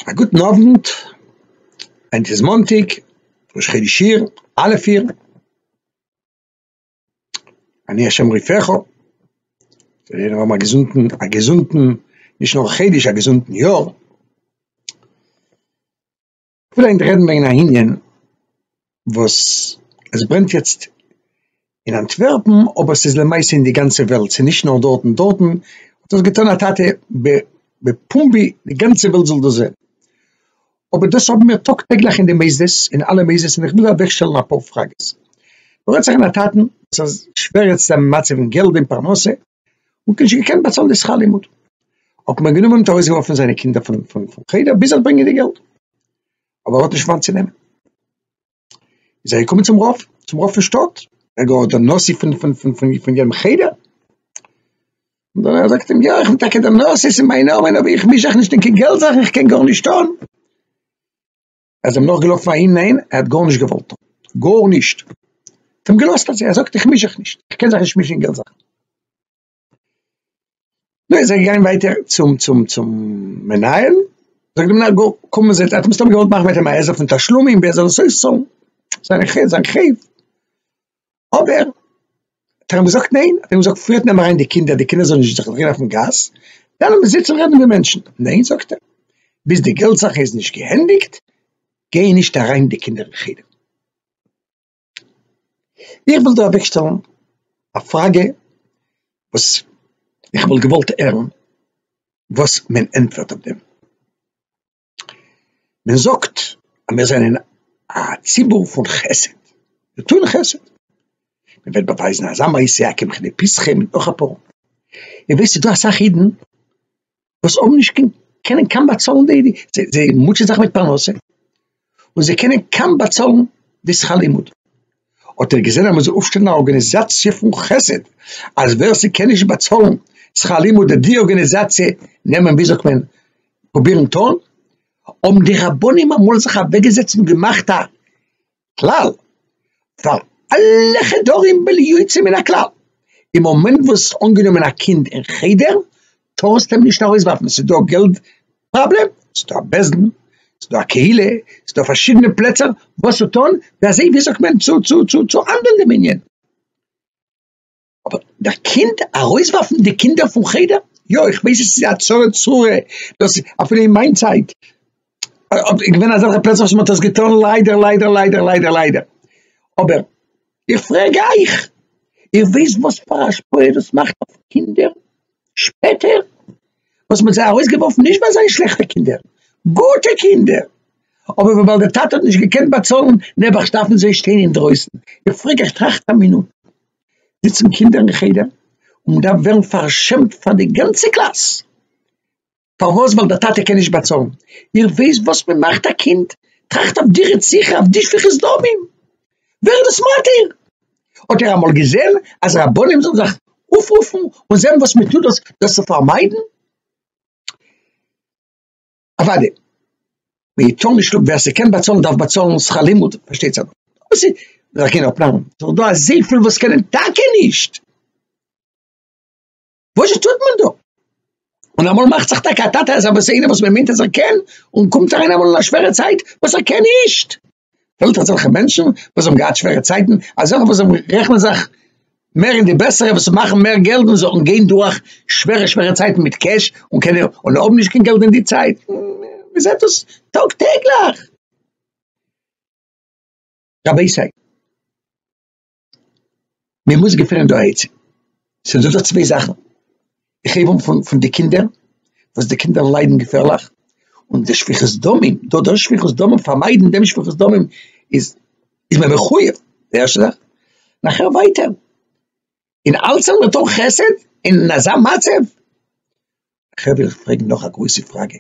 א גוטן אוונט, היינט איז מאנטאג, ראש חודש אייר, א' אייר, אני השם רופאיך, זאל יעדער האבן א געזונטן, א געזונטן, נישט נאר א חודש, א געזונטן יאר. כ'וויל היינט רעדן וועגן א ענין וואס עס ברענט יעצט אין אנטווערפן, אבער ס'איז למעשה אין די גאנצע וועלט, ס'איז נישט נאר דארטן, דארטן האט דאס געטון א טאטע בפומבי, די גאנצע וועלט זאל דאס זען, אבער דאס האבן מיר טאג טעגליך אין די מוסדות, אין אלע מוסדות, און כ'וויל אוועקשטעלן אפאר פראגעס, דא רעדט זיך אין א טאטן וואס איז שווער יעצט זיין מצב אין געלט אין פרנסה, און קיין נישט געקענט באצאלן די שכר לימוד האט מען גענומען מיט ארויסגעווארפן זיינע קינדער פון פון פון חדר ביז ער האט ברענגען די געלט אבער ער האט נישט וואנט צו נעמען איז ער געקומען צום רב צום רב פון שטאט ער גאר דער נשיא פון פון פון פון פון יענעם חדר און דער רב זאגט אים יא איך בין טאקע דער נשיא אין מיין נאמען אבער איך מיש זיך נישט אין קיין געלט זאכן איך קען גארנישט טון ער זיי נאך געלאפן אהין ניין ער האט גארנישט געוואלט גארנישט האט אים געלאזט אזוי ער זאגט איך מיש זיך נישט איך קען זיך נישט מישן אין געלט זאכן נו איז ער געגאנגען ווייטער צום צום צום מנהל זאגט די מנהל גא קום מיר זעצן האט אים סתם געוואלט מאכן מיט אים א עזר פון תשלומים ווי ער זאל עס אויסצאלן זיין חוב זיין חוב אבער האט ער אים געזאגט ניין, האט ער אים געזאגט פריערט נעם אריין די קינדער, די קינדער זאלן נישט זיך דרייען אויפן גאס, וועלן מיר זיצן רעדן ווי מענטשן, ניין זאגט ער, ביז די געלט זאך איז נישט געענדיגט גיי נישט אריין די קינדער אין חדר. איך וויל דא אוועק שטעלן א פראגע וואס איך וואלט געוואלט הערן וואס מען ענטפערט אויף דעם. מען זאגט אז מיר זענען א ציבור פון חסד, מיר טוהן חסד, מען וועט באווייזן אזא מעשה הק' מכדי פסחים און נאך אפאר, איר ווייסט ס'דא אסאך אידן וואס האבן נישט קיין קענען קאם באצאלן די די זיי מוטשען זיך מיט פרנסה און זיי קענען קאם באצאלן די שכר לימוד. האט ער געזען אז מען זאל אויפשטעלן א ארגאניזאציע פון חסד, אז ווער ס'קען נישט באצאלן שכר לימוד זאל די ארגאניזאציע נעמען ווי זאגט מען פרובירן טון, האבן די רבנים אמאל זיך אוועקגעזעצט און געמאכט א כלל פאר אלע חדרים בלי יוצא מן הכלל, אין מאמענט וואס האסט אנגענומען א קינד אין חדר, טארסטו אים נישט ארויסווארפן, ס'איז דא געלט פראבלעם, ס'דא א בית דין, ס'דא א קהילה, ס'דא פארשידענע פלעצער וואס צו טון, ווי אזוי ווי זאגט מען צו צו צו צו האנדלן דעם ענין, אבער דער קינד ארויסווארפן די קינדער פון חדר, יא איך ווייס עס איז א צרה צרורה, דאס אפילו אין מיין צייט איז געווען אזעלכע פלעצער וואס מען האט עס געטון ליידער ליידער ליידער ליידער ליידער, אבער. איך פרעג אייך, איר ווייסט וואס פאר א השפעה דאס מאכט אויף קינדער שפעטער, וואס מען האט זיי ארויסגעווארפן נישט ווייל זיי זענען שלעכטע קינדער, גוטע קינדער, אבער וויבאלד די טאטע האט נישט געקענט באצאלן, נעבעך דארפן זיי שטיין אינדרויסן, איך פרעג אייך, טראכט א מינוט, זיצן קינדער אין חדר און מ'דארף ווערן פארשעמט פאר די גאנצע קלאס, פארוואס? ווייל די טאטע קען נישט באצאלן, איר ווייסט וואס מען מאכט א קינד? טראכט אויף די רציחה אויף די שפיכות דמים, ווער איז דאס מתיר? האט איר אמאל געזען אז רבנים זאלן זיך אויפרופן און זען וואס מען טוט דאס דאס צו פארמיידן? אוואדי מען טאר נישט לאזן, ווער ס'קען באצאלן דארף באצאלן שכר לימוד, פארשטייט זיך דאס איז דאך גיין אפנארמען, ס'איז דא אזויפיל וואס קענען טאקע נישט. וואזשע טוט מען דא? און אמאל מאכט זיך טאקע א טאטע אז ער איינער וואס מ'מיינט אז ער קען, און קומט אריין אמאל אין א שווערע צייט וואס ער קען נישט. פעלט אזעלכע מענטשן וואס האבן געהאט שווערע צייטן, אזעלכע וואס זענען רעכענען זיך מער אין די בעסערע וואס מאכן מער געלט און זאלן גיין דורך שווערע שווערע צייטן מיט קעש און קענען און האבן נישט קיין געלט אין די צייט, מ'זעט דאס טאג טעגליך. רבותי. מען מוז געפינען דא א עצה, ס'איז דא דא צוויי זאכן, איך הייב אן פון פון די קינדער, וואס די קינדער ליידן געפערליך, און די שפיכות דמים, דא דאס שפיכות דמים, פארמיידן דעם שפיכות דמים איז איז מען מחוייב, די ערשטע זאך, נאכער ווייטער, און אלץ זאל מען טון חסד אין אזא מצב, נאכער וויל איך פרעגן נאך א גרויסע פראגע.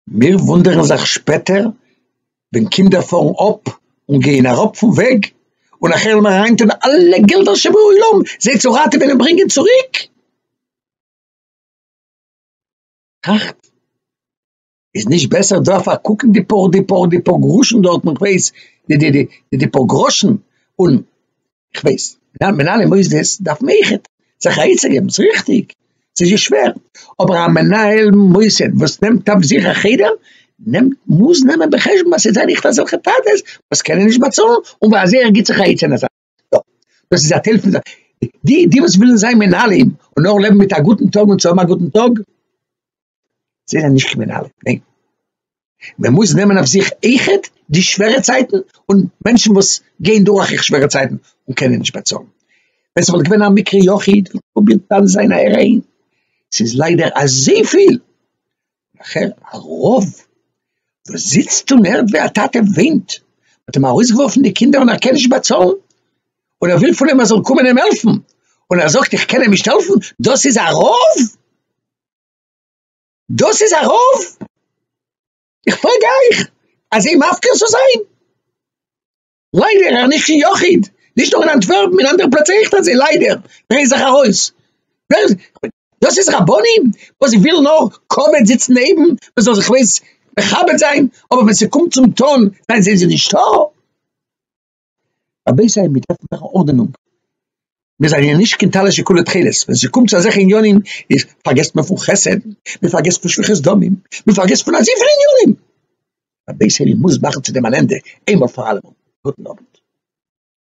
מיר וואונדערן זיך שפעטער ווען קינדער פארן אפ און גייען אראפ פון וועג און נאכער וועלן מיר אריינטון אלע געלדער שבעולם זיי צו ראטעווען און ברענגען צוריק. טראכט, איז נישט בעסער דא פארקוקן די פאר די פאר די פאר גראשן דארטן, איך ווייס, די די די די פאר גראשן און כ'ווייס, מיט מנהלי מוסדות דארף מען אויכעט זיך א עצה געבן, ס'איז ריכטיג, ס'איז יא שווער, אבער א מנהל מוסד וואס נעמט אויף זיך א חדר, נעמט, מוז נעמען בחשבון אז ס'זענען אויכעט אזעלכע טאטעס וואס קענען נישט באצאלן, און וואס אזוי ער גיבט זיך א עצה אין אזא יא, דאס איז א טייל פון זיין, די די וואס ווילן זיין מנהלים און נאר לעבן מיט א גוטן טאג און צו האבן א גוטן טאג, זיי זענען נישט קרימינאלן, ניין. מען מוז נעמען אויף זיך איחוד די שווערע צייטן און מענטשן וואס גייען דורך איך שווערע צייטן און קענען נישט באצאלן. ווען ס'וואלט געווען א מקרה יחיד וואלט מען פרובירט דן זיין א ערעין. ס'איז ליידער אזויפיל. נאכער א רב וואס זיצט און הערט ווי א טאטע וויינט, מ'האט אים ארויסגעווארפן די קינדער און ער קען נישט באצאלן, און ער וויל פון אים ער זאל קומען אים העלפן, און ער זאגט איך קען אים נישט העלפן, דאס איז א רב? דאס איז א רוב? איך פרעג אייך אזוי מפקיר צו זיין? ליידער ער נישט קיין יחיד, נישט נאר אין אנטווערפן אין אנדערע פלעצער אויכט אזוי ליידער, ברענג זיך ארויס, דאס איז רבנים וואס ווילן נאר כבוד זיצן נעבן, מען זאל זיך ווען עס מכבד זיין, אבער ווען ס'קומט צום טון זענען זיי נישטא? א בית עלמין דארף מען מאכן ארדענונג, מיר זענען נישט קיין טלית שכולה תכלת, ווען ס'קומט צו אזעלכע עניינים איז פארגעסט מען פון חסד, מען פארגעסט פון שפיכת דמים, מען פארגעסט פון אזויפיל עניינים, א בית עלמין מוז מאכן צו דעם אן ענדע איינמאל פאר אלעמאל. גוטן אוונט.